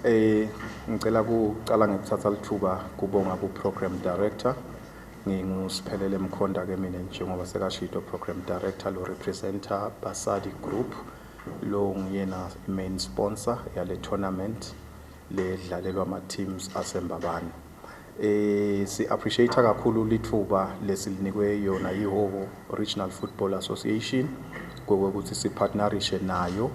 Eh ngicela kuqala ngikuthatha lithuba kubonga ku program director ngingusiphelele mkhonda ke mina njengoba sekashito program director lo representer Basadi Group lo nguyena main sponsor yale tournament ledlalelwa ama teams asembabane Eh si appreciate kakhulu lithuba lesilinikwe yona yiHoho Regional Football Association kokuthi sipartnerishe nayo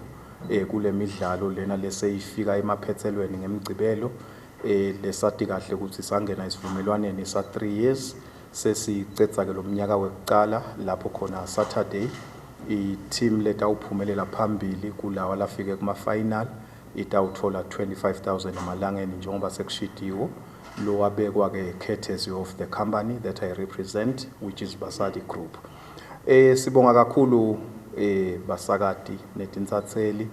eh kulemidlalo lena leseyifika emaphethelweni ngemigcibelo eh lesati kahle ukuthi sangena isivumelwaneni sa 3 years sesicetha ke lomnyaka wekuqala lapho khona Saturday i team letawuphumelela phambili kulawa lafike kuma final itawuthola 25,000 emalangeni njengoba sekushidiwe lo wabekwa ke courtesy of the company that I represent which is Basadi Group eh sibonga kakhulu eh basakati netinsatseli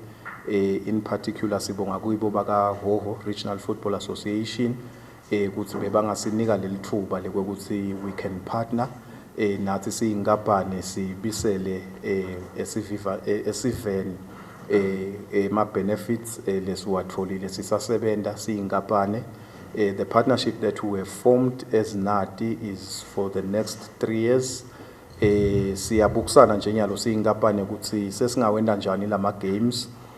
eh in particular sibonga kuyibo baka Hoho Regional Football Association eh, ukuthi bebangasinika leli thuba lokuthi we can partner eh, nathi siyinkampani sibisele eh, esiviva eh, esiveni eh, eh, ma benefits eh, lesiwatholile sisasebenza siyinkampani eh, the partnership that we have formed as Nati is for the next 3 years eh siyabukusana nje nyalo siyinkampani ukuthi sesingawenda njani lama games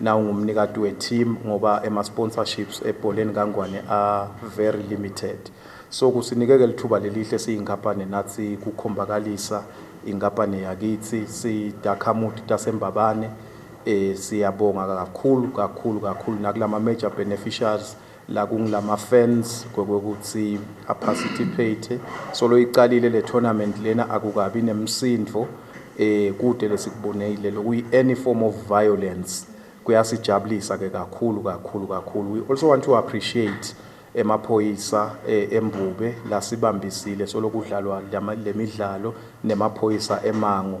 Now ngumnikati we team ngoba ema sponsorships ebholeni kaNgwane are very limited. So kusinikeke lithuba lelihle siyinkampani nathi kukhombakalisa inkampani yakithi sidakhamuthi tasembabane eh siyabonga kakhulu kakhulu kakhulu nakulama major beneficiaries la kungilama fans kokuthi a participate solo iqalile le tournament lena akukabi nemsindvo eh kude lesikubonile lokuyi any form of violence kuyasijabulisa ke kakhulu kakhulu kakhulu we also want to appreciate emaphoyisa eh, embube lasibambisile solokudlalwa lemidlalo nemaphoyisa emango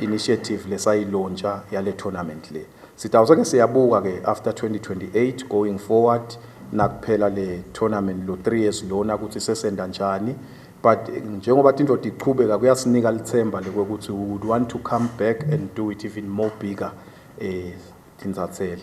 initiative lesayilontsha yale tournament le sitawusa ke siyabuka ke after 2028 going forward nakuphela le tournament lo 3 years lona ukuthi sesenda njani but njengoba tindoda iqhubeka kuyasinika lithemba lokuthi we would want to come back and do it even more bigger eh tinzathele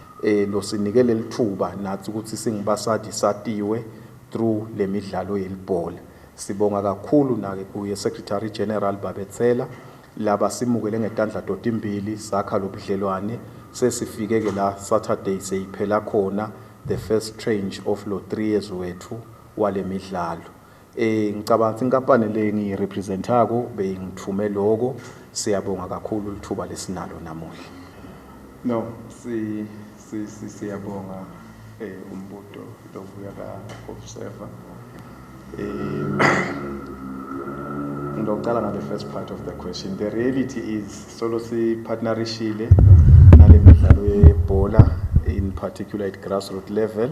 eh losinike lelithuba nathi ukuthi singibasadi satiwe through lemidlalo yelibhola sibonga kakhulu nake kuye secretary general babethela laba simukele ngetandla totimbili sakha lobudlelwane sesifike ke la saturday seyiphela khona the first change of lo 3 years wethu walemidlalo Eh ngicabanga ukuthi inkampani le engiyirepresentako beyingithume loko. Siyabonga kakhulu lithuba lesinalo namuhla. No, si si si siyabonga eh umbuto lovuya ka observer. Eh ngizocala ngale first part of the question. The reality is solo si partnerishile nale midlalo yebhola in particular at grassroots level.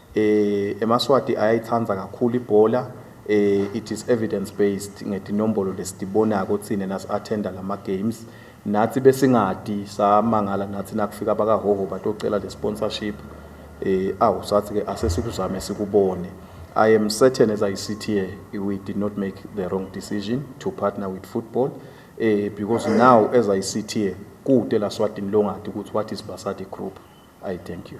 Eh eMaswati ayayithanda kakhulu ibhola eh it is evidence based ngetinombolo lesitibonako thina nas attenda lama games nathi besingadi samangala nathi nakufika bakahoho batocela le sponsorship eh awu sathi ke asesikuzame sikubone I am certain as I sit here we did not make the wrong decision to partner with football eh because now as I sit here kude la swatini longadi ukuthi what is Basadi group I thank you